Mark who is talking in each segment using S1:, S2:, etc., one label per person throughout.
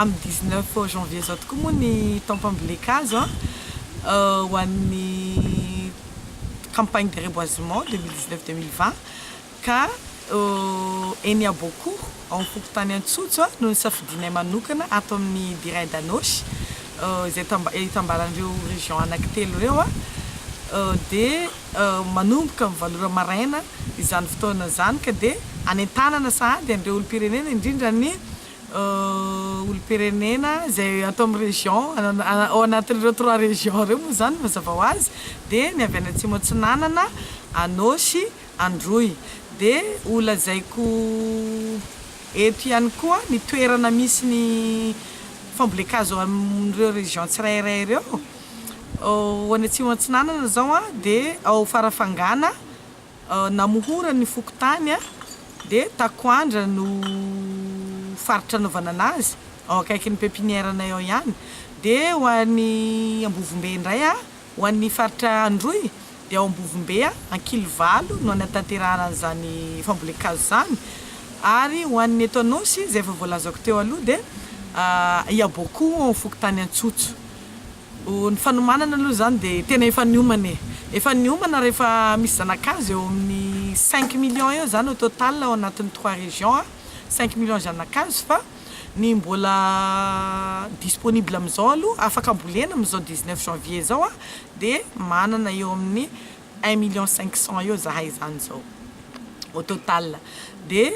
S1: Amin'ny dix neuf janvier izao tokoa moa ny taom-pambolen-kazo ho an'ny campagne de reboisement deux mille dix neuf deux mille vingt ka eny Aboakoho ao am-pokontany Antsotso no nisafidianay manokana ato amin'ny Diraid Anôsy izay itambaran'ireo région anankitelo ireo dia manomboka amin'ny valo ora maraina izany fotoana izany ka dia hanentanana sahady an'ireo olom-pirenena indrindra ny olom-pirenena izay ato amin'ny région, ao anatin'ireo trois régions ireo moa izany mazava ho azy dia ny avy any Atsimo Atsinanana, Anôsy, Androy. Dia holazaiko eto ihany koa ny toerana misy ny fambolen-kazo amin'ireo régions tsirairay ireo. Ho any Atsimo Atsinanana izao dia ao Farafangana, Namohorany ny fokontany dia Takoandra no faritra anaovana anazy, ao akaikin'ny pepinière-nay ao ihany. Dia ho any Ambovombe indray, ho an'ny faritra Androy dia ao Ambovombe, Ankilivalo no hanatanterahana an'izany fambolen-kazo izany. Ary ho an'ny eto Anôsy, izay efa voalazako teo aloha dia Iabôkoa ao amin'ny fokontany Antsotso. Ny fanomanana aloha izany dia tena efa niomana e! Efa niomana rehefa misy zanakazo eo amin'ny cinq millions eo izany au total ao anatin'ny trois régions a! Cinq millions zanakazo fa ny mbola disponible amin'izao aloha afaka ambolena amin'izao dix neuf janvier izao a dia manana eo amin'ny Un million cinq cent eo zahay zany zao au total de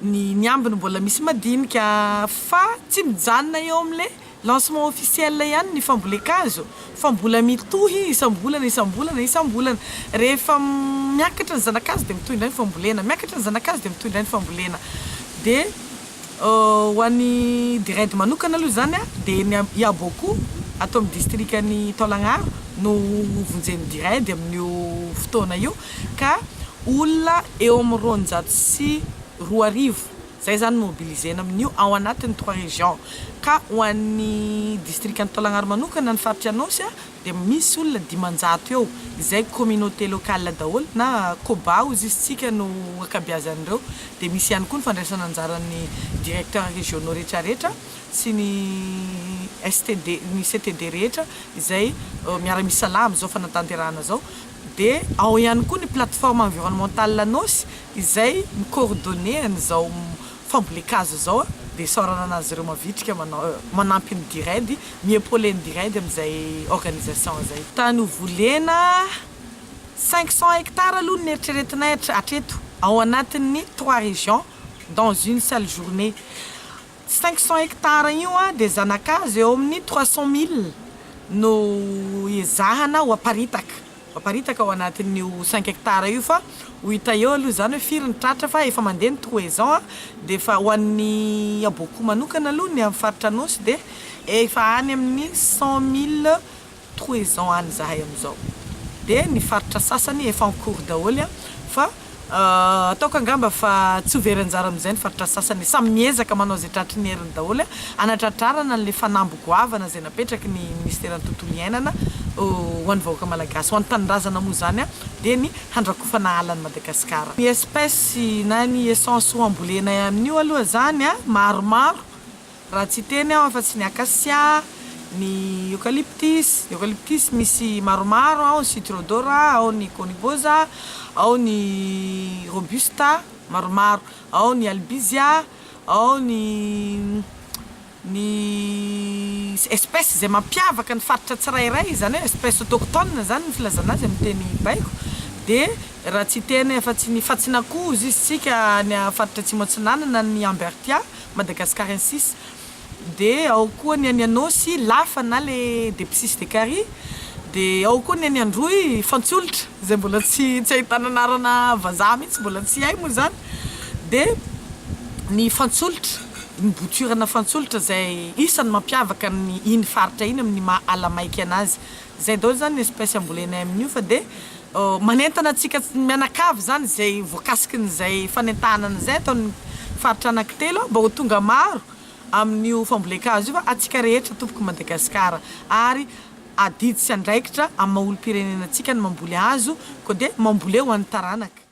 S1: ny ny ambiny mbola misy madinika fa tsy mijanona eo amle lancement officiel ihany ny fambolen-kazo fa mbola mitohy isam-bolana isam-bolana isam-bolana rehefa miakatra ny zana-kazo de mitohy indray ny fambolena miakatra ny zana-kazo de mitohy indray ny fambolena de Ho an'ny Dired manokana aloha izany dia ny Iabôko ato amin'ny distrikan'i Taolagnaro no hovonjen'ny Dired amin'io fotoana io ka olona eo amin'ny roanjato sy roa arivo izay izany no mobilizena amin'io ao anatin'ny trois régions ka ho an'ny distrikan'i Taolagnaro manokana ny faritra Anôsy dia misy olona dimanjato eo izay communauté locale daholo na Koba hozy izy tsika no ankabiazan'ireo dia misy ihany koa ny fandraisana anjaran'ny directeurs régionaux retraretra sy ny STD ny CTD rehetra izay miara misalahy amin'izao fanatanterahana zao dia ao ihany koa ny plateforme environnementale Anôsy izay mi coordonner an'izao Famboliakazo izao dia isaorana an'azy ireo mavitrika manampy ny Dired, mi-epauler ny Dired amin'izay organisation izay. Tany ho volena cinq cents hectares aloha no neritreretinay hatreto ao anatin'ny trois régions dans une seule journée. Cinq cents hectares io dia zanakazo eo amin'ny trois cents milles no ezahana ho aparitaka. Aparitaka ao anatin'io cinq hectares io fa ho hita eo aloha izany hoe firy ny tratra fa efa mandeha ny toison a, dia efa ho an'ny aboakoa manokana aloha ny amin'ny faritra Anôsy dia efa any amin'ny cent mille toison any izahay amin'izao dia ny faritra sasany efa en cours daholo fa Ahh ataoko angamba fa tsy ho very anjara amin'izay ny faritra sasany e! Samy miezaka manao izay tratry ny heriny daholo e, hanatratrarana an'ilay fanamby goavana izay napetraky ny Minisiteran'ny Tontolo Iainana ho an'ny vahoaka Malagasy, ho an'ny Tanindrazana moa izany dia ny handrakofana ala an'i Madagasikara. Ny espèces na ny essence ho ambolena amin'io aloha izany maromaro, Raha tsy hiteny aho afa-tsy ny acacia, ny eucalyptus, eucalyptus misy maromaro, ao ny citrodora, ao ny conibosa, ao ny robusta, maromaro, ao ny albizia, ao ny ny espèces izay mampiavaka ny faritra tsirairay, izany hoe espèces autochtones izany ny filazana azy amin'ny teny baiko, dia raha tsy hiteny afa-tsy ny fatsinakoho, hoy isika any faritra Atsimo Atsinanana, ny ambertia, Madagascar insis de ao koa ny any Anôsy lafa na le depsisy de kary de ao koa ny any Androy fantsiolotra zay mbola tsy tsy ahitana anarana vazaha mihitsy mbola tsy hay moa zany de ny fantsiolotra ny botirana fantsiolotra zay isany mampiavaka ny iny faritra iny amin'ny maha ala maika anazy Zay daholo zany ny espèce ambolenay amin'io fa dia manentana antsika mianakavy zany izay voakasikin'izay fanentahanana izay ataon'ny faritra Anankitelo mba ho tonga maro amin'io fambolen-kazo io fa antsika rehetra tompoko Madagasikara ary adidy sy andraikitra amin'ny maha olom-pirenena antsika ny mamboly hazo koa dia mamboleo ho an'ny taranaka.